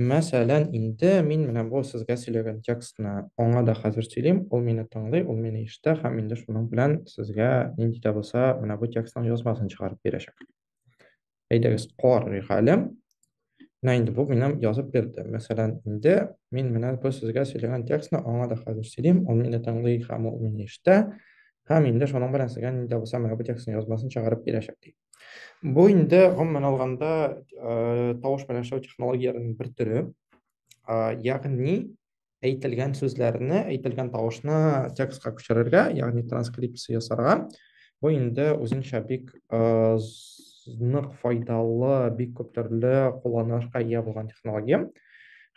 Мәсәлән, инде мин менә бу сезгә сөйләгән текстны аңа да хәзер сөйлим, ул мине тыңлый, ул мине ишетә һәм инде шуның белән сезгә нинди дә булса менә бу текстның язмасын чыгарып бирәчәк. Әйдәгез, карыйк әле. Менә инде бу минем язып бирде. Мәсәлән, инде мин менә бу сезгә сөйләгән текстны аңа да хәзер сөйлим, ул мине тыңлый һәм ул мине ишетә һәм инде шуның белән сезгә нинди дә булса менә бу текстның язмасын чыгарып бирәчәк, ди. Бу инде гомумән алганда э, тавыш белән эшләү технологияләренең бер төре. Ягъни әйтелгән сүзләрне, әйтелгән тавышны текстка күчерергә, ягъни транскрипция ясарга. Бу инде үзенчә бик э, нык файдалы, бик күп төрле кулланылышка ия булган технология.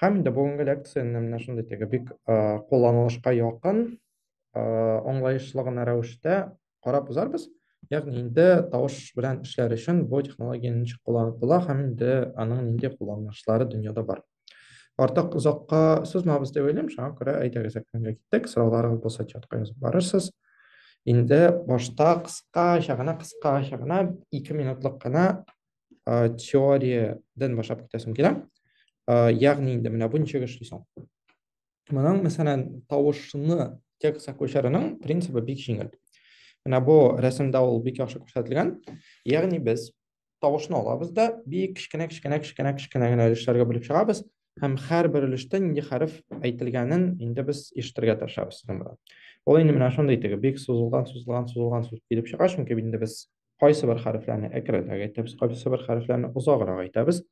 Һәм инде бүгенге лекцияне менә шундый теге бик э, кулланылышка якын, аңлаешлы гына рәвештә карап узарбыз. Ягъни инде тавыш белән эшләр өчен бу технология ничек кулланып була һәм инде аның нинди кулланышлары дөньяда бар. Артык озакка сузмабыз дип уйлыйм, шуңа күрә әйдәгез экранга киттек, сорауларыгыз булса чатка язып барырсыз. Инде башта кыскача гына, кыскача гына 2 минутлык кына теориядән башлап китәсем килә. Ягъни инде менә бу ничек эшли соң? Моның, мәсәлән, тавышны текстка күчерүнең принцибы бик җиңел. Менә бу рәсемдә ул бик яхшы күрсәтелгән. Ягъни без тавышны алабыз да бик кечкенә кечкенә кечкенә кечкенә генә өлешләргә бүлеп чыгабыз һәм һәрбер өлештә нинди хәреф әйтелгәнен инде без ишетергә тырышабыз. Ул инде менә шундый теге бик сузылган, сузылган, сузылган сүз килеп чыга, чөнки инде без кайсы бер хәрефләрне әкренрәк әйтәбез, кайсы бер хәрефләрне озаграк әйтәбез.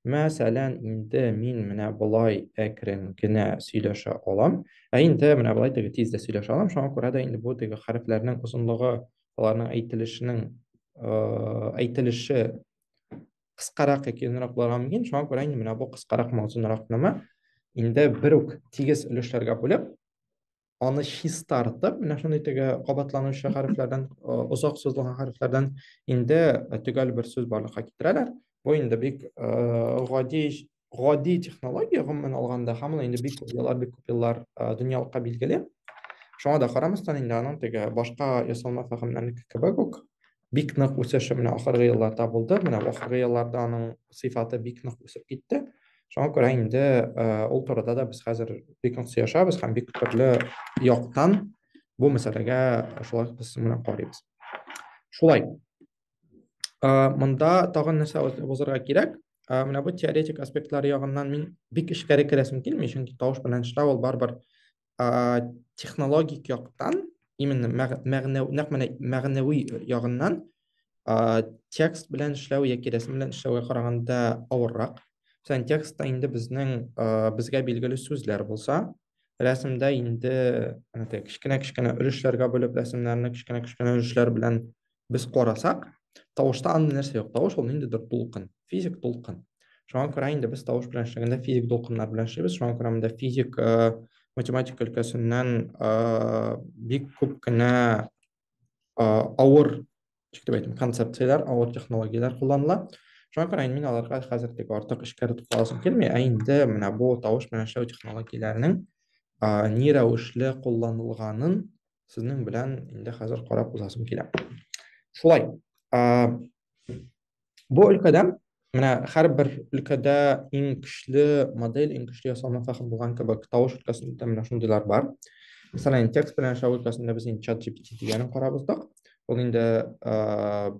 Мәсәлән, инде мин менә болай әкрен генә сөйләшә алам, ә инде менә болай теге тиз дә сөйләшә алам. Шуңа күрә дә инде бу теге хәрефләрнең озынлыгы, аларның әйтелешенең әйтелеше кыскарак яки озынрак булырга мөмкин. Шуңа күрә инде менә бу кыскаракмы, озынракмы инде бер үк тигез өлешләргә бүлеп, аны чистартып, менә шундый теге кабатланучы хәрефләрдән, озак сузылган хәрефләрдән инде төгәл бер сүз барлыкка китерәләр. Бу инде бик гади гади технология гомумән алганда, һәм ул инде бик күп еллар, бик күп еллар дөньялыкка билгеле. Шуңа да карамастан, инде аның теге башка ясалма фәһемнәрнеке кебек үк бик нык үсеше менә ахыргы елларда булды. Менә ахыргы елларда аның сыйфаты бик нык үсеп китте. Шуңа күрә инде ул турыда да без хәзер бик нык сөйләшәбез һәм бик төрле яктан бу мәсьәләгә шулай без менә карыйбыз. Шулай. Монда тагын нәрсә узарга кирәк? Менә бу теоретик аспектлар ягыннан мин бик эчкәре керәсем килми, чөнки тавыш белән эшләү ул барыбер технологик яктан именно нәкъ менә мәгънәви ягыннан текст белән эшләү яки рәсем белән эшләүгә караганда авыррак Мәсәлән, текстта инде безнең безгә билгеле сүзләр булса, рәсемдә инде кечкенә-кечкенә өлешләргә бүлеп рәсемнәрне кечкенә-кечкенә өлешләр белән Без карасак, тавышта андый нәрсә юк. Тавыш ул ниндидер дулкын, физик дулкын. Шуңа күрә инде без тавыш белән эшләгәндә физик дулкыннар белән эшлибез. Шуңа күрә монда физик э, математика өлкәсеннән э, бик күп кенә э, авыр дип әйтим, концепцияләр, авыр технологияләр кулланыла. Шуңа күрә мин аларга хәзер тик артык эшкә тукталасым килми, ә инде менә бу тавыш белән эшләү технологияләренең ни рәвешле кулланылганын сезнең белән инде хәзер карап узасым килә. Шулай. Бу өлкәдә менә һәрбер өлкәдә иң көчле модель, иң көчле ясалма фәһем булган кебек, тавыш өлкәсендә менә шундыйлар бар. Мәсәлән, текст белән эшләү өлкәсендә без инде ChatGPT дигәнен карап уздык. Ул инде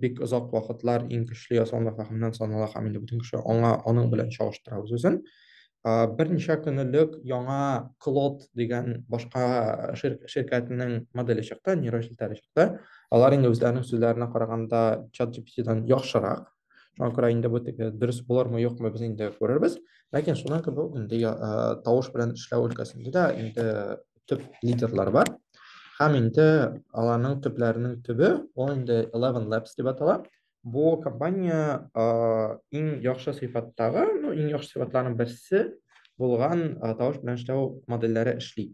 бик озак вакытлар иң көчле ясалма фәһемнән санала һәм инде бөтен кеше аңа аның белән чагыштыра үзен. Берничә көн элек яңа Claude дигән башка ширкәтнең моделе чыкты, нейрон челтәре чыкты. Алар инде үзләренең сүзләренә караганда ChatGPT-дан яхшырак. Шуңа күрә инде бу теге дөрес булырмы, юкмы, без инде күрербез. Ләкин шуннан кебек үк инде тавыш белән эшләү өлкәсендә дә инде төп лидерлар бар. Һәм инде аларның төпләренең төбе, ул инде Eleven Labs дип атала. Бу компания а, иң яхшы сыйфаттагы, ну, иң яхшы сыйфатларның берсе булган а, тавыш белән эшләү модельләре эшли.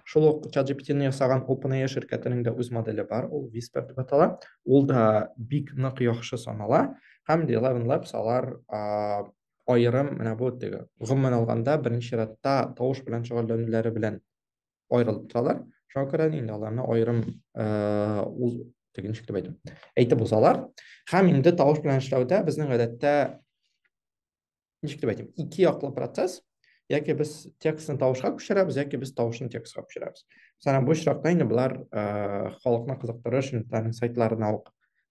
Шул ук ChatGPT-ны ясаган OpenAI ширкәтенең дә үз моделе бар, ул Whisper дип атала. Ул да бик нык яхшы санала һәм The Eleven Labs алар а, аерым менә бу теге. Гомумән алганда, беренче чиратта тавыш белән шөгыльләнүләре белән аерылып торалар шуңа күрә инде аларны аерым ул теге ничек дип әйтү әйтеп узалар һәм инде тавыш белән эшләүдә безнең гадәттә ничек дип әйтим ике яклы процесс яки без текстны тавышка күчерәбез яки без тавышны текстка күчерәбез мәсәлән бу очракта инде болар халыкны кызыктырыр өчен сайтларына ук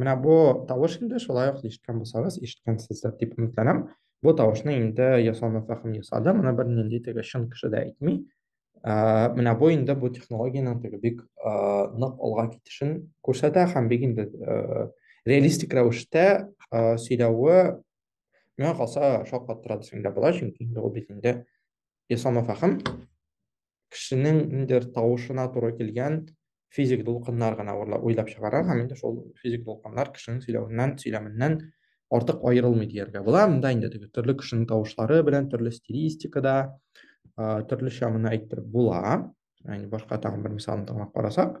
Менә бу тавыш инде шулай ук ишеткән булсагыз, ишеткәнсездер дип өметләнәм. Бу тавышны инде ясалма фәһем ясады, моны бернинди теге чын кеше дә әйтми. Ә, менә бу инде бу технологиянең теге бик ә, нык алга китешен күрсәтә һәм бик инде ә, реалистик рәвештә ә, сөйләве миңа калса шаккаттыра дисәң дә була, чөнки инде ул бит инде Исламов ахын кешенең ниндер тавышына туры килгән физик дулкыннар гына уйлап чыгара һәм инде шул физик дулкыннар кешенең сөйләвеннән, сөйләменнән артык аерылмый дияргә була. Монда инде теге төрле кешенең тавышлары белән төрле стилистикада төрлечә моны әйтеп була. Яни башка тагын бер мисалны тыңлап карасак.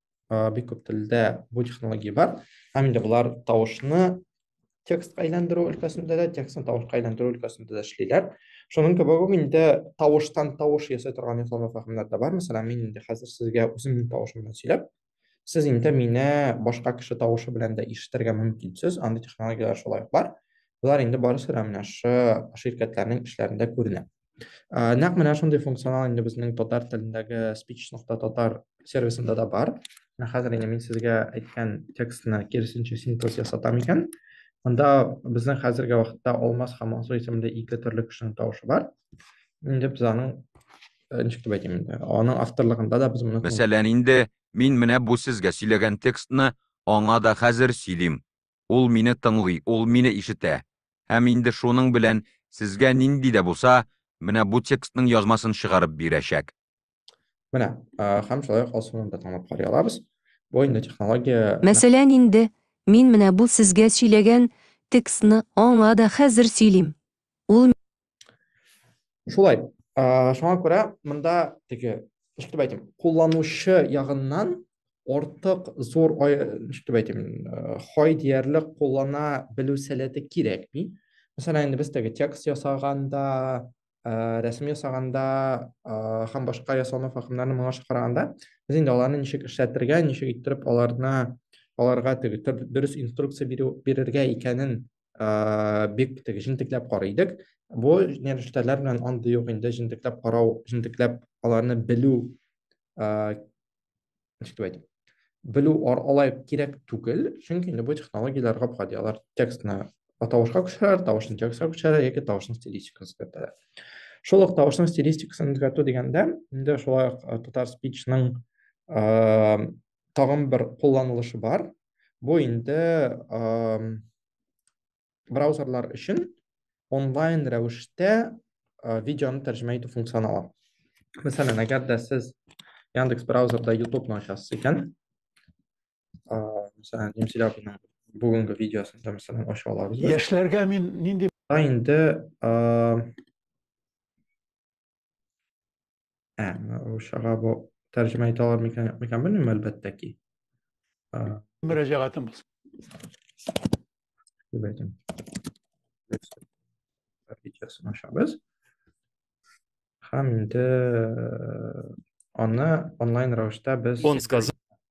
бик күп телдә бу технология бар һәм инде болар тавышны текстка әйләндерү өлкәсендә дә текстны тавышка әйләндерү өлкәсендә дә эшлиләр шуның кебек үк инде тавыштан тавыш ясый торган йоклама фәһемнәр дә бар мәсәлән мин инде хәзер сезгә үземнең тавышым белән сөйләп сез инде мине башка кеше тавышы белән дә ишетергә мөмкинсез андый технологияләр шулай ук бар болар инде барысы да менә ошо ширкәтләрнең эшләрендә күренә ә, нәкъ менә шундый функционал инде безнең татар телендәге speech нокта татар сервисында да бар менә хәзер инде мин сезгә әйткән текстны киресенчә синтез ясатам икән анда безнең хәзерге вакытта алмаз һәм алсу исемле ике төрле кешенең тавышы бар инде без аның э, ничек дип әйтим инде аның авторлыгында да без моны мәсәлән инде мин менә бу сезгә сөйләгән текстны аңа да хәзер сөйлим Ул мине тыңлый, ул мине ишетә. Һәм инде шуның белән сезгә нинди дә булса, менә бу текстның язмасын чыгарып бирәчәк. Менә, һәм шулай ук алсуны да тыңлап карый алабыз. Бу инде технология. Мәсәлән, инде мин менә бу сезгә сөйләгән текстны аңа да хәзер сөйлим. Ул. Шулай. Ә, шуңа күрә монда теге, ничек дип әйтим, кулланучы ягыннан ортык зур, ничек дип әйтим, хай диярлек куллана белү сәләте кирәкми. Мәсәлән, инде без теге текст ясаганда, ә, рәсем ясаганда, ә, һәм башка ясалма факымнарны моңа чакырганда, без инде аларны ничек эшләтергә, ничек иттереп аларны аларга теге дөрес инструкция бирү бирергә икәнен ә, бик теге җентекләп карый идек. Бу нәрештәләр белән андый юк инде җентекләп карау, җентекләп аларны белү ә, ничек дип әйтим? Белү алай кирәк түгел, чөнки инде бу технологияләр гап-гади. Алар текстны тавышка күчерәләр, тавышны текстка күчерәләр яки тавышның стилистикасын үзгәртәләр. Шул ук тавышның стилистикасын үзгәртү дигәндә, инде шулай ук Татар спичның тагын бер кулланылышы бар. Бу инде браузерлар өчен онлайн рәвештә видеоны тәрҗемә итү функционалы. Мәсәлән, әгәр дә сез Яндекс браузерда YouTube-ны ачасыз икән, мәсәлән, Немселябиның бүгенге видеосын да мәсәлән ача алабыз. Яшьләргә мин нинди инде Ә, русчага бу тәрҗемә итә алар микән, микән белмим, әлбәттә ки. Мөрәҗәгатем булсын. Дип әйтәм. Видеосын ачабыз. Һәм инде аны онлайн рәвештә без Он сказал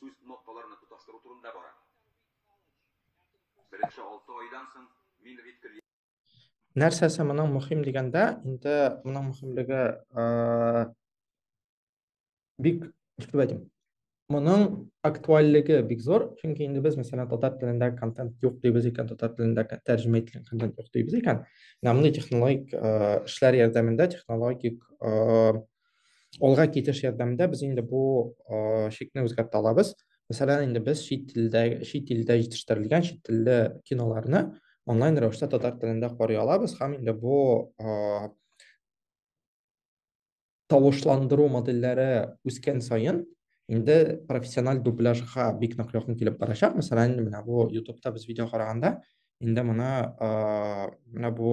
Сүз кнопкаларны тоташтыру турында бара. Беренче алты айдан соң мин Риткель. Нәрсәсе моның мөһим дигәндә, инде моның мөһимлеге бик, ничек дип әйтим, моның актуальлеге бик зур, чөнки инде без, мәсәлән, татар телендә контент юк дибез икән, татар телендә тәрҗемә ителгән контент юк дибез икән, менә мондый технологик эшләр ярдәмендә, технологик Алга китеш ярдәмендә без инде бу шикне үзгәртә алабыз. Мәсәлән, инде без чит телдә, чит илдә җитештерелгән чит телле киноларны онлайн рәвештә татар телендә карый алабыз һәм инде бу тавышландыру модельләре үскән саен инде профессиональ дубляжга бик нык якын килеп барачак. Мәсәлән, менә бу YouTube-та без видео караганда, инде моны менә бу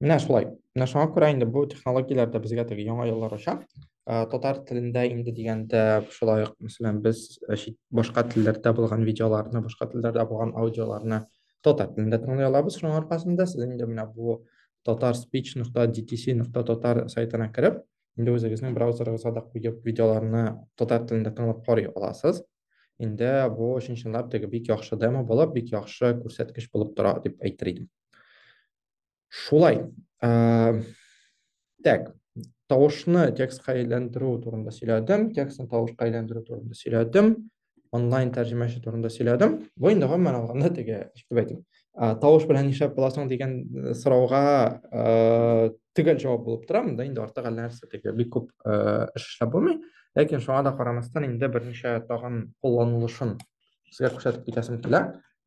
Менә шулай. Менә шуңа күрә инде бу технологияләр дә безгә теге яңа юллар ача. Э, татар телендә инде дигәндә шулай ук, мәсәлән, без э, башка телләрдә булган видеоларны, башка телләрдә булган аудиоларны татар телендә тыңлый алабыз. Шуның аркасында сез инде менә бу tatarspeech.dtc.tatar сайтына кереп, инде үзегезнең браузерыгызга да куеп видеоларны татар телендә тыңлап карый аласыз. Инде бу чын-чынлап теге бик яхшы демо булып, бик яхшы күрсәткеч булып тора дип әйтер идем. Шулай. Ә, так, тавышны текстка әйләндерү турында сөйләдем, текстны тавышка әйләндерү турында сөйләдем, онлайн тәрҗемәче турында сөйләдем. Бу инде гомумән алганда теге, дип әйтим. Тавыш белән нишләп буласың дигән э, сорауга э, төгәл җавап булып тора. Монда инде артык әллә нәрсә теге бик күп э, эш эшләп булмый. Ләкин шуңа да карамастан инде берничә тагын кулланылышын Сезгә күрсәтеп китәсем килә.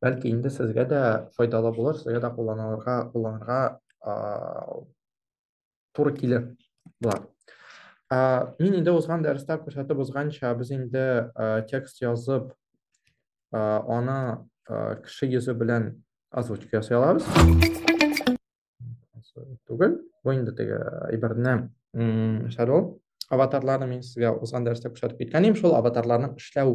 Бәлки инде сезгә дә файдалы булыр, сезгә дә кулланырга, кулланырга туры килер болар. Мин инде узган дәрестә күрсәтеп узганча, без инде текст язып, аны кеше йөзе белән озвучка ясый алабыз. түгел бу инде теге әйберне эшләү аватарларны мин сезгә узган дәрестә күрсәтеп киткән идем шул аватарларның эшләү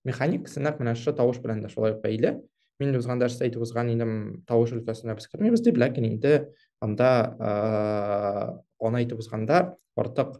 механикасы нәкъ менә шушы тавыш белән дә шулай ук бәйле мин узган дәрестә әйтеп узган идем тавыш өлкәсенә без кермибез дип ләкин инде анда аны әйтеп узганда артык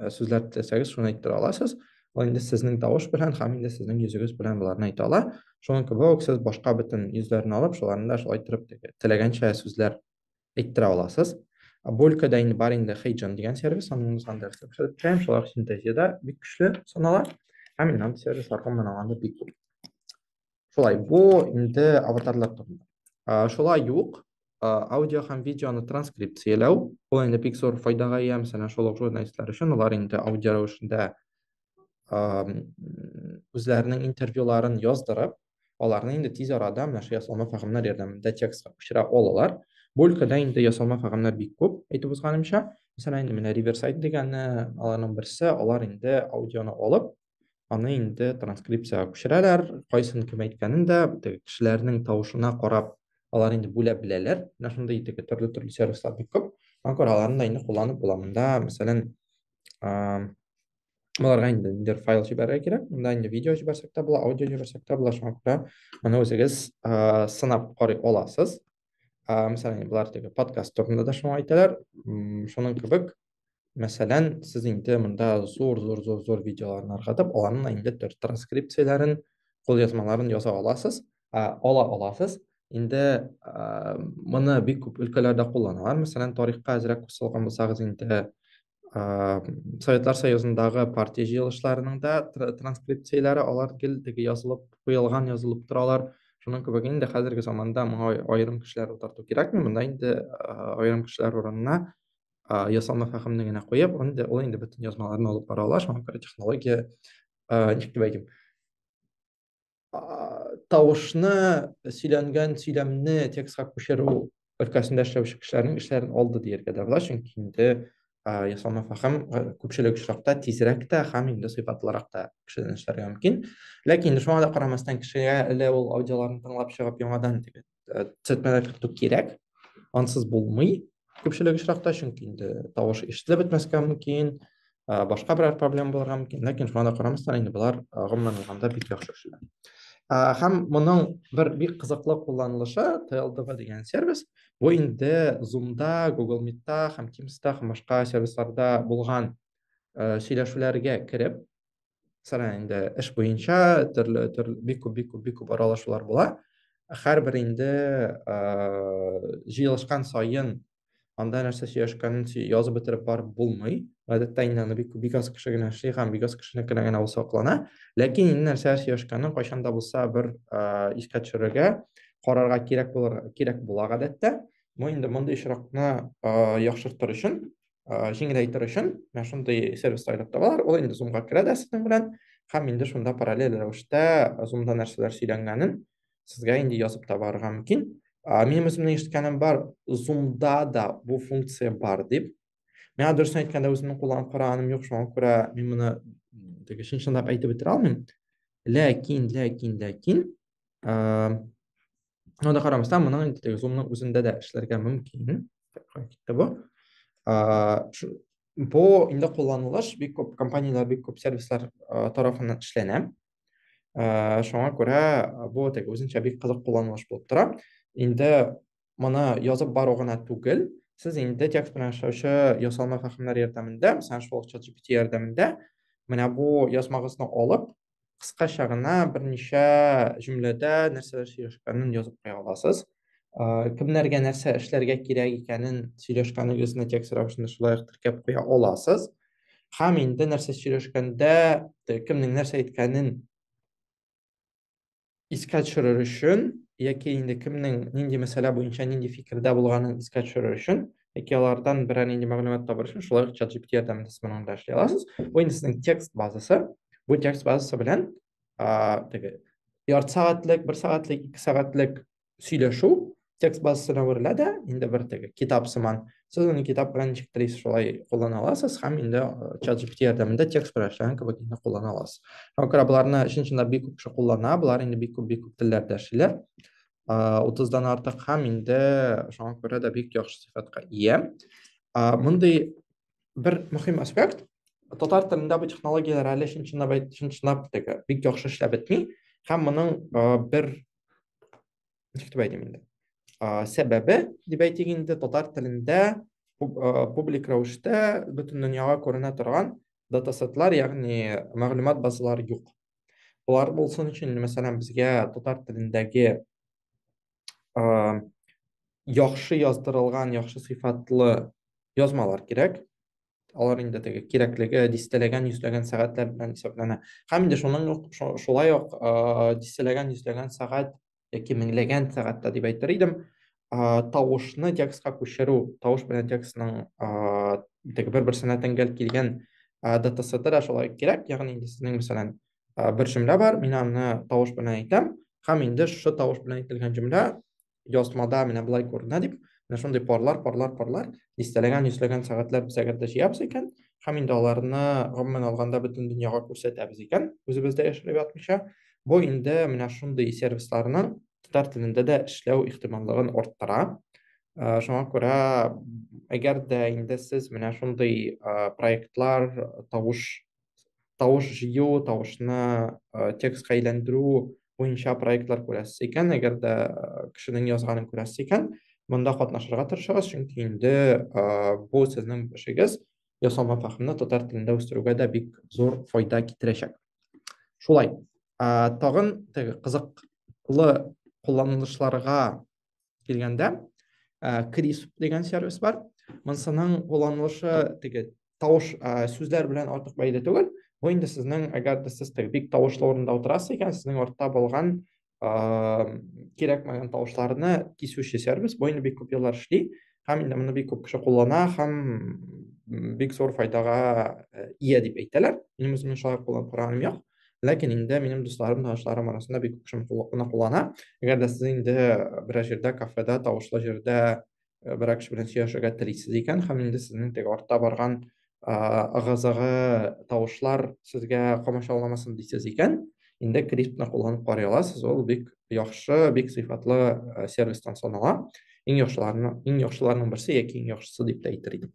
э, сүзләр теләсәгез шуны әйттерә аласыз ул инде сезнең тавыш белән һәм инде сезнең йөзегез белән боларны әйтә ала шуның кебек үк сез башка бөтен йөзләрне алып шуларны да шулай торып теләгәнчә сүзләр әйттерә аласыз бу өлкәдә инде бар инде хейджон дигән сервис аның сандерсен төшереп торам шулар синтезиядә бик көчле санала һәм инант сервисларга монан анда бик күп Шулай, бу инде аватарлар турында. Шулай юк, аудио һәм видеоны транскрипцияләү, ул инде бик зур файдага ия, мәсәлән, шул ук журналистлар өчен, алар инде аудио рәвешендә үзләренең интервьюларын яздырып, аларны инде тиз арада менә шул ясалма фәгымнәр ярдәмендә текстка күчерә алалар. Бу өлкәдә инде ясалма фәгымнәр бик күп, әйтеп узганымча. Мәсәлән, инде менә Riverside дигәне аларның берсе, алар инде аудионы алып, аны инде транскрипцияга күчерәләр. Кайсын кем әйткәнен дә теге кешеләрнең тавышына карап, алар инде бүләп беләләр. Менә шундый теге төрле-төрле сервислар бик күп. Аңа күрә аларны да инде кулланып була. Монда, мәсәлән, аларга инде ниндер файл җибәрергә кирәк. Монда инде видео җибәрсәк тә була, аудио җибәрсәк тә була. Шуңа күрә моны үзегез сынап карый аласыз. ә, мәсәлән болар теге подкаст турында да шуны әйтәләр шуның кебек мәсәлән сез инде монда зур зур зур зур видеоларны ыргытып аларның инде транскрипцияләрен кулъязмаларын яза аласыз ә, ала аласыз инде ә, моны бик күп өлкәләрдә кулланалар мәсәлән тарихка әзрәк кушылган булсагыз инде Советлар Союзындагы партия җыелышларының да транскрипцияләре алар гел теге язылып куелган язылып торалар. Шуның кебек инде хәзерге заманда моңа аерым кешеләр утырту кирәкми, монда инде аерым кешеләр урынына ясалма фәһемне генә куеп, инде ул инде бөтен язмаларны алып бара ала, шуңа күрә технология ничек дип әйтим, тавышны сөйләнгән сөйләмне текстка күчерү өлкәсендә эшләүче кешеләрнең эшләрен алды дияргә дә була чөнки инде ясалма фәһем күпчелек очракта тизрәк тә һәм инде сыйфатлырак та кешедән эшләргә мөмкин ләкин шуңа да карамастан кешегә әле ул аудиоларны тыңлап чыгып яңадан э, цветмәләр кертү кирәк ансыз булмый күпчелек очракта чөнки инде тавыш ишетелеп бетмәскә мөмкин э, башка берәр проблема булырга мөмкин ләкин шуңа да карамастан инде болар гомумән алганда бик яхшы эшләр һәм моның бер бик кызыклы кулланылышы тлдв дигән сервис бу инде зумда google meetта һәм тимста һәм башка сервисларда булган сөйләшүләргә кереп сара инде эш буенча төрле төрле бик күп бик күп бик күп аралашулар була һәрбер инде җыелышкан саен анда нәрсә сөйләшкәнен язып бетереп барып булмый гадәттә инде аны бик бик аз кеше генә эшли һәм бик аз кешенекенә генә ул саклана ләкин инде нәрсә сөйләшкәнен кайчан да булса бер искә төшерергә карарга кирәк булыр кирәк була гадәттә бу инде мондый очракны яхшыртыр өчен җиңеләйтер өчен, менә шундый сервис сайлап табалар, ул инде Zoom-га керә дә сезнең белән, һәм инде шунда параллель рәвештә Zoom-да нәрсәләр сөйләнгәнен сезгә инде язып табарга мөмкин. Минем үземнең ишеткәнем бар, Zoom-да да бу функция бар дип. Миңа дөресен әйткәндә үземнең кулланып караганым юк, шуңа күрә мин моны теге чын-чынлап әйтеп бетерә алмыйм. Ләкин, ләкин, ләкин, Анда карамастан, моның инде теге зумның үзендә дә эшләргә мөмкин. Китте бу. Бу инде кулланылыш бик күп компанияләр, бик күп сервислар тарафыннан эшләнә. Шуңа күрә бу теге үзенчә бик кызык кулланылыш булып тора. Инде моны язып бару гына түгел, сез инде текст белән эшләүче ясалма фәһемнәр ярдәмендә, мәсәлән, шул чат GPT ярдәмендә менә бу язмагызны алып, кыскача гына берничә җөмләдә нәрсәләр сөйләшкәнен язып куя аласыз. Кемнәргә нәрсә эшләргә кирәк икәнен сөйләшкәнегезне текст рәвешендә шулай теркәп куя аласыз. Һәм инде нәрсә сөйләшкәндә, кемнең нәрсә әйткәнен искә төшерер өчен яки инде кемнең нинди мәсьәлә буенча нинди фикердә булганын искә төшерер өчен яки алардан берәр нинди мәгълүмат табыр өчен шулай ук чат gpt ярдәмендә сез моны анда эшли аласыз бу инде сезнең текст базасы бу текст базасы белән теге ярты сәгатьлек бер сәгатьлек ике сәгатьлек сөйләшү текст базасына әверелә дә инде бер теге китап сыман сез аны китап белән ничектерисез шулай куллана аласыз һәм инде чат gpt ярдәмендә текст белән эшләгән кебек инде куллана аласыз шуңа күрә боларны чын чында бик күп кеше куллана болар инде бик күп бик күп телләрдә эшлиләр утыздан артык һәм инде шуңа күрә дә бик яхшы сыйфатка ия мондый бер мөһим аспект татар телендә бу технологияләр әле чын чынлап чын чынлап теге бик яхшы эшләп бетми һәм моның бер Ничектеп әйтим инде? Сәбәбе, дип әйтик инде, татар телендә публик рәвештә бөтен дөньяга күренә торган датасетлар, ягъни мәгълүмат базалары юк. Болар булсын өчен, мәсәлән, безгә татар телендәге яхшы яздырылган, яхшы сыйфатлы язмалар кирәк. алар инде теге кирәклеге дистәләгән йөзләгән сәгатьләр белән исәпләнә һәм инде шуның ук шулай ук дистәләгән йөзләгән сәгать яки меңләгән сәгатьтә дип әйтер идем тавышны текстка күчерү тавыш белән текстның теге бер берсенә тәңгәл килгән датасеты да шулай кирәк ягъни инде сезнең мәсәлән бер җөмлә бар мин аны тавыш белән әйтәм һәм инде шушы тавыш белән әйтелгән җөмлә язмада менә болай күренә дип, менә шундый парлар, парлар, парлар, дистәләгән, йөзләгән сәгатьләп сәгатьтә җыябыз икән, һәм инде аларны гомумән алганда бөтен дөньяга күрсәтәбез икән, үзебездә яшереп ятмыйча, бу инде менә шундый сервисларның татар телендә дә эшләү ихтималлыгын арттыра. Э, шуңа күрә әгәр дә инде сез менә шундый э, проектлар тавыш тавыш җыю, тавышны э, текстка әйләндерү буенча проектлар күрәсез икән, әгәр дә э, кешенең язганын күрәсез икән, монда катнашырга тырышыгыз, чөнки инде э, бу сезнең эшегез ясалма фәһемне татар телендә үстерүгә дә бик зур файда китерәчәк. Шулай, тагын теге кызыклы кулланылышларга килгәндә крис дигән сервис бар монысының кулланылышы теге тавыш сүзләр белән артык бәйле түгел бу инде сезнең әгәр дә сез теге бик тавышлы урында утырасыз икән сезнең артта булган кирәкмәгән тавышларны кисүче сервис бу инде бик күп еллар эшли һәм инде моны бик күп кеше куллана һәм бик зур файдага ия дип әйтәләр минем үземнең шулай кулланып караганым юк Ләкин инде минем дусларым, танышларым арасында бик күп шуны куллана куллана. Әгәр дә сез инде берәр җирдә, кафеда, тавышлы җирдә э, берәр кеше белән сөйләшергә телисез икән һәм инде сезнең теге артта барган ыгы-зыгы тавышлар сезгә комачауламасын дисез икән, инде криптны кулланып карый аласыз. Ул бик яхшы, бик сыйфатлы э, сервистан санала. Иң яхшыларның, иң яхшыларның берсе яки иң яхшысы дип тә әйтер идем.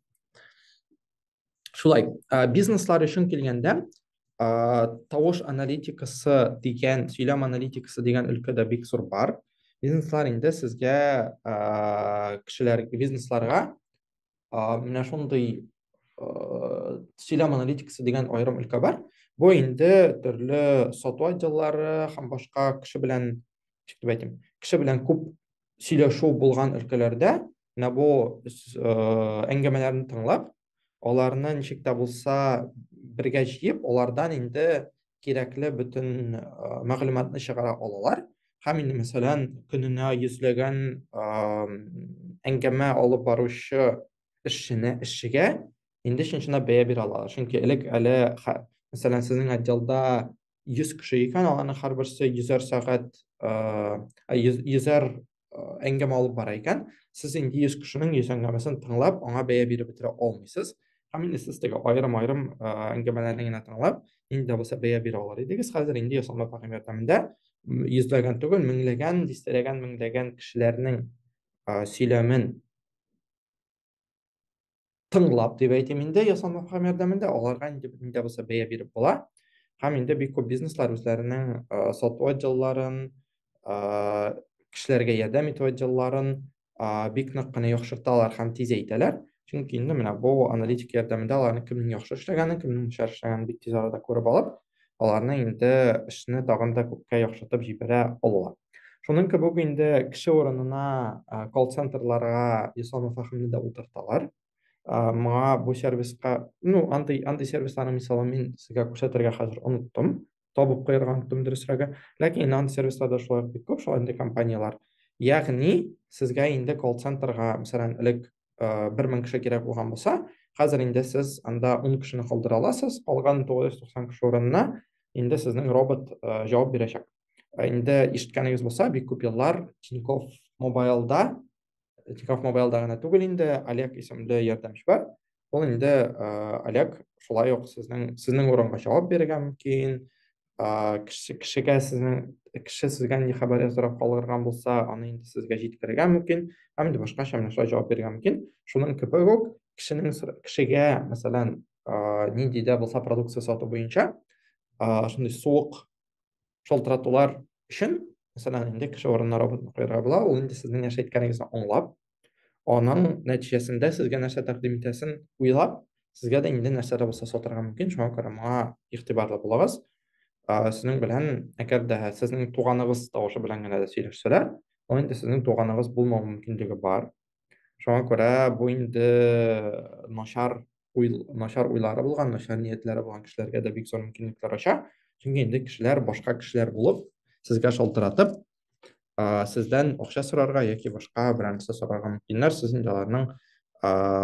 шулай ә, бизнеслар өчен килгәндә ә, тавыш аналитикасы дигән сөйләм аналитикасы дигән өлкәдә бик зур бар бизнеслар инде сезгә ә, кешеләр бизнесларга ә, менә шундый ә, сөйләм аналитикасы дигән аерым өлкә бар бу инде төрле сату отделлары һәм башка кеше белән ничек дип әйтим кеше белән күп сөйләшү булган өлкәләрдә менә бу әңгәмәләрне тыңлап аларны ничек тә булса бергә җыеп алардан инде кирәкле бөтен мәгълүматны чыгара алалар һәм инде мәсәлән көненә йөзләгән әңгәмә алып баручы эшчене эшчегә инде чын чынлап бәя бирә алалар чөнки элек әле мәсәлән сезнең отделда 100 кеше икән, аларның һәрберсе йөзәр сәгать, йөзәр әңгәмә алып бара икән, сез инде 100 кешенең 100 әңгәмәсен тыңлап, аңа бәя биреп бетерә алмыйсыз. Һәм инде сез теге аерым-аерым әңгәмәләрне генә тыңлап, нинди дә булса бәя бирә алыр идегез. Хәзер инде ясалма фәһем ярдәмендә йөзләгән түгел, меңләгән, дистәләгән, меңләгән кешеләрнең сөйләмен тыңлап дип әйтим инде ясалма һәм ярдәмендә аларга инде нидә булса бәя биреп була һәм инде бик күп бизнеслар үзләренең сату отделларын кешеләргә ярдәм итү отделларын бик нык кына яхшырталар һәм тизәйтәләр чөнки инде менә бу аналитик ярдәмендә аларның кемнең яхшы эшләгәнен кемнең начар эшләгәнен бик тиз арада күреп алып аларны инде эшне тагын да күпкә яхшыртып җибәрә алалар. Шуның кебек инде кеше урынына колл-центрларга Ислам Фахимны да утырталар. Моңа бу сервиска, ну, андый андый сервисларның мисалын мин сезгә күрсәтергә хәзер оныттым, табып куярга оныттым дөресрәге. Ләкин инде андый сервисларда шулай бик күп шул андый компанияләр. Ягъни, сезгә инде колл-центрга, мәсәлән, элек э, бер мең кеше кирәк булган булса хәзер инде сез анда ун кешене калдыра аласыз калган тугыз йөз туксан кеше урынына инде сезнең робот э, җавап бирәчәк э, инде ишеткәнегез булса бик күп еллар тинькофф мобайлда тинькофф мобайлда гына түгел инде олег исемле ярдәмче бар ул инде олег шулай ук сезнең сезнең урынга җавап бирергә мөмкин кеше кешегә сезнең кеше сезгә нинди хәбәр яздырып калдырган булса, аны инде сезгә җиткерергә мөмкин, һәм инде башка шәмнәшләр җавап бирергә мөмкин. Шуның кебек үк кешенең кешегә, мәсәлән, нинди дә булса продукция сату буенча, шундый суык шалтыратулар өчен, мәсәлән, инде кеше урынына роботны куярга була, ул инде сезнең нәрсә әйткәнегезне аңлап, Аның нәтиҗәсендә сезгә нәрсә тәкъдим итәсен уйлап, сезгә дә инде нәрсә дә булса сатарга мөмкин, шуңа күрә моңа игътибарлы булыгыз. Сезнең белән, әгәр дә сезнең туганыгыз тавышы белән генә дә сөйләшсәләр, ул инде сезнең туганыгыз булмау мөмкинлеге бар. Шуңа күрә бу инде начар уйл, начар уйлары булган, начар ниятләре булган кешеләргә дә бик зур мөмкинлекләр ача. Чөнки инде кешеләр башка кешеләр булып, сезгә шалтыратып, сездән акча сорарга яки башка берәр нәрсә сорарга мөмкиннәр, сез инде аларның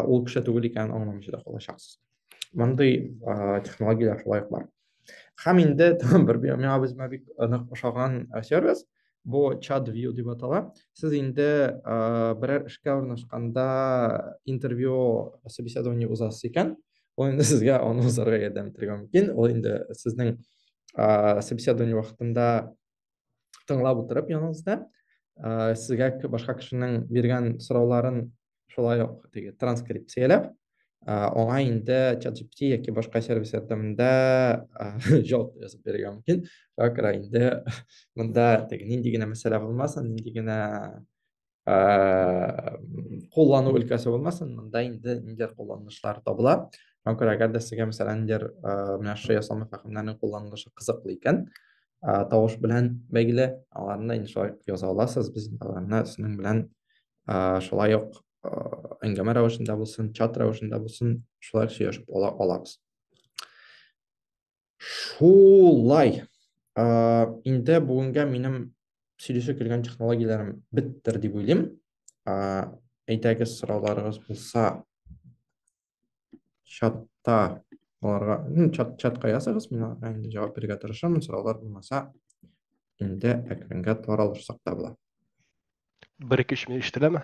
ул кеше түгел икәнен аңламыйча да калачаксыз. Мондый технологияләр шулай ук бар. Һәм инде бер миңа үземә бик нык ошаган сервис, бу чат view дип атала. Сез инде берәр эшкә урнашканда интервью собеседование узасыз икән, ул инде сезгә аны узарга ярдәм итәргә мөмкин. Ул инде сезнең собеседование вакытында тыңлап утырып яныңызда ә, сезгә башка кешенең биргән сорауларын шулай ук теге транскрипцияләп ә, аңа инде ChatGPT яки башка сервис ярдәмендә җавап язып бирергә мөмкин. Шуңа күрә инде монда теге нинди генә мәсьәлә булмасын, нинди генә куллану өлкәсе булмасын, монда инде ниндидер кулланышлар табыла. Шуңа күрә әгәр дә сезгә мәсәлән ниндидер менә шушы ясалма фәһемнәрнең кулланылышы кызыклы икән, тавыш белән бәйле, аларны инде шулай яза аласыз, без аларны сезнең белән шулай ук әңгәмә рәвешендә булсын, чат рәвешендә булсын, шулай сөйләшеп ала алабыз. Шулай. Инде бүгенгә минем сөйләшә килгән технологияләрем беттер дип уйлыйм. Әйдәгез сорауларыгыз булса чатта аларга, чат чатка языгыз, мин аларга инде җавап бирергә тырышамын, сораулар булмаса инде әкренге таралышсак та була. Бер-ике-өч минут ишетеләме?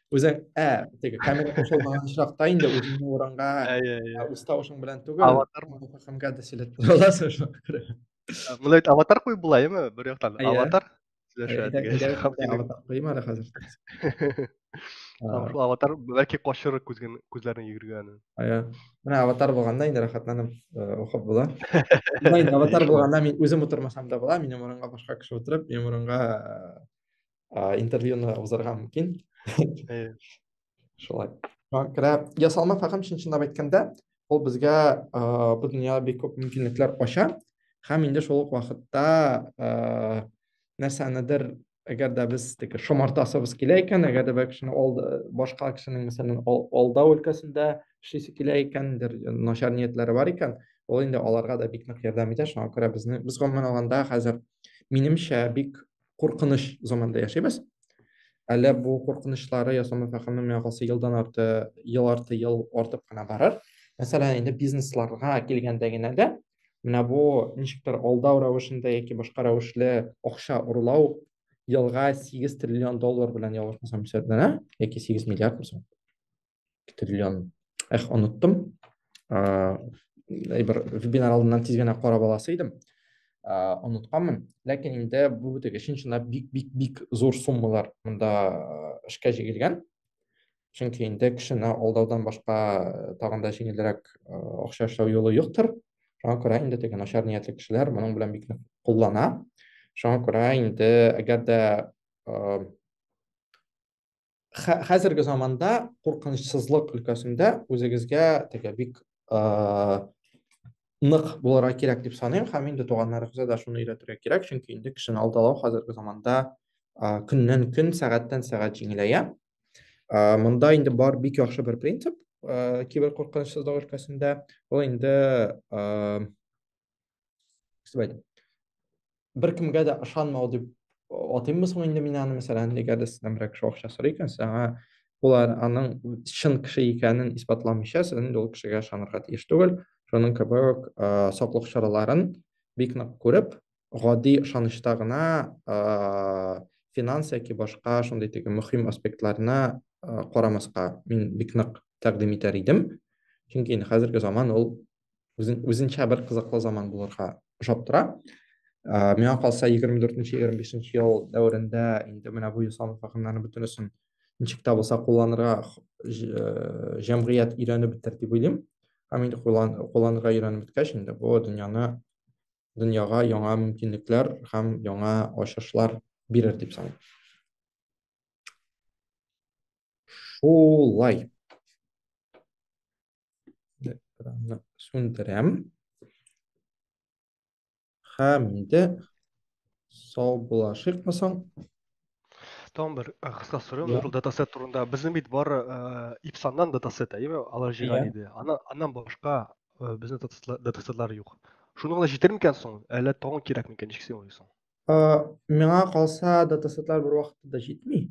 үзең ә теге камера кушылмаган очракта инде үзеңне урынга үз тавышың белән түгел аватар хакымга да сөйләп тора аласың шуңа күрә мында бит аватар куеп була яме бер яктан аватар аватар куйма әле хәзер шул аватар бәлки качыр күзген күзләрен йөгергән иә менә аватар булганда инде рәхәтләнеп укып була аватар булганда мин үзем утырмасам да була минем урынга башка кеше утырып минем урынга ә, интервьюны узарга мөмкин шулай кірә ясалма фәһем чын чынлап әйткәндә ул безгә ә, бу дөнья бик күп мөмкинлекләр ача һәм инде шул ук вакытта ә, нәрсәнедер әгәр дә без теге шомартасыбыз килә икән әгәр дә бер кешене ол башка кешенең мәсәлән алдау өлкәсендә эшлисе килә икән начар ниятләре бар икән ул инде аларга да бик нык ярдәм итә шуңа күрә безне без гомумән алганда хәзер минемчә бик куркыныч заманда яшибез. Әле бу куркынычлары ясама фәһеме миңа калса елдан арты, ел арты ел артып кына барыр. Мәсәлән, инде бизнесларга килгәндә генә дә менә бу ничектер алдау рәвешендә яки башка рәвешле акча урлау елга 8 триллион доллар белән ялгышмасам исәпләнә, яки 8 миллиард булса. Китриллион. Эх, оныттым. Ә, бер вебинар алдыннан тиз генә карап аласы идем. Ә, онытканмын. Ләкин инде бу теге чынчына бик бик бик зур суммалар монда эшкә җигелгән. Чөнки инде кешене алдаудан башка тагын да җиңелрәк акча эшләү юлы юктыр. Шуңа күрә инде теге начар ниятле кешеләр моның белән бик нык куллана. Шуңа күрә инде әгәр дә хәзерге заманда куркынычсызлык өлкәсендә үзегезгә теге бик нык булырга кирәк дип саныйм һәм инде туганнарыгызга да шуны өйрәтергә кирәк чөнки инде кешене алдалау хәзерге заманда көннән көн сәгатьтән сәгать җиңеләя монда инде бар бик яхшы бер принцип киберкуркынычсызлык өлкәсендә ул инде Кстати, бер кемгә дә ышанмау дип атыйммы соң инде мин аны, мәсәлән, әгәр дә сездән берәр кеше акча сорый икән, сиңа улар аның чын кеше икәнен исбатламыйча, сез инде ул кешегә ышанырга тиеш түгел. Шуның кебек саклык чараларын бик нык күреп, гади ышанычта гына финанс яки башка шундый теге мөһим аспектларны карамаска мин бик нык тәкъдим итәр идем. Чөнки инде хәзерге заман ул үзен, үзенчә бер кызыклы заман булырга ошап тора. Ә, миңа калса 24-25 ел дәверендә инде менә бу ясалма фәһемнәрне бөтенесен ничек тә булса кулланырга э, җәмгыять өйрәнеп бетер дип уйлыйм. Һәм инде кулланырга өйрәнеп беткәч инде бу дөньяны дөньяга яңа мөмкинлекләр һәм яңа ачышлар бирер дип саныйм. Шулай. Экранны сүндерәм. Һәм инде сау булашыйк масан. Там бер э, кыска сорау yeah. датасет турында. Безнең бит бар э, ипсаннан датасет, әйме? Алар җыйган иде. Ана аннан башка э, безнең датасетлар юк. Шуның гына җитер микән соң? Әллә тагын кирәк микән? Ничек син уйлыйсың? Миңа калса датасетлар бер вакытта да җитми.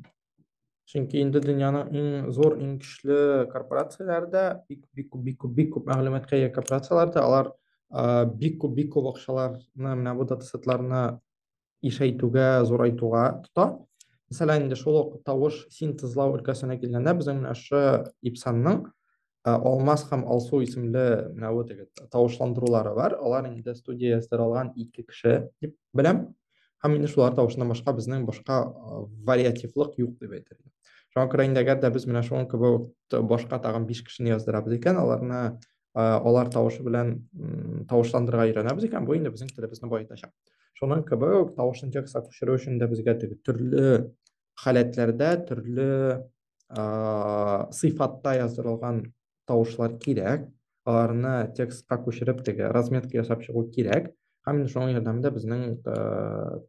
Чөнки инде дөньяның иң зур, иң көчле корпорацияләре дә бик бик күп, бик күп, бик күп мәгълүматка ия корпорацияләр дә алар а, бик күп, бик күп акчаларны менә бу датасетларны ишәйтүгә, зурайтуга тота. Мәсәлән, инде шул ук тавыш синтезлау өлкәсенә килгәндә, безнең менә шу Ипсанның Алмаз һәм Алсу исемле менә вот теге тавышландырулары бар. Алар инде студия сыралган ике кеше дип беләм. Һәм инде шулар тавышыннан башка безнең башка вариативлык юк дип әйтер идем. Шуңа күрә инде әгәр дә без менә шуның кебек башка тагын 5 кешене яздырабыз икән, аларны алар тавышы белән тавышландырырга өйрәнәбез икән, бу инде безнең телебезне баетачак. Шуның кебек тавышын текстка күчерү өчен дә безгә теге төрле халәтләрдә, төрле сыйфатта яздырылган тавышлар кирәк аларны текстка күчереп теге разметка ясап чыгу кирәк һәм инде шуның ярдәмендә безнең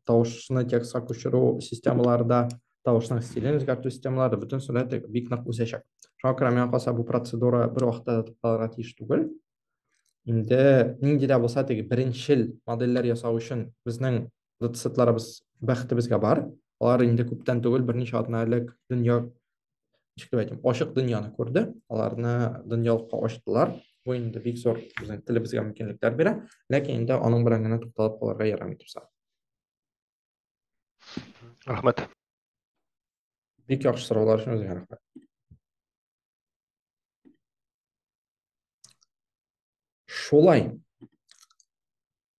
тавышны текстка күчерү системалары да тавышның стилен үзгәртү системалары бөтен сәләте бик нык үсәчәк шуңа күрә миңа калса бу процедура бер вакытта да тукталырга тиеш түгел инде нинди дә булса теге беренчел модельләр ясау өчен безнең доцентларыбыз бәхетебезгә бар. Алар инде күптән түгел, берничә атна элек дөнья ничек дип әйтим, ачык дөньяны күрде. Аларны дөньялыкка ачтылар. Бу инде бик зур безнең телебезгә мөмкинлекләр бирә, ләкин инде аның белән генә тукталып калырга ярамый турса. Рәхмәт. Бик яхшы сораулар өчен үзеңә рәхмәт. Шулай.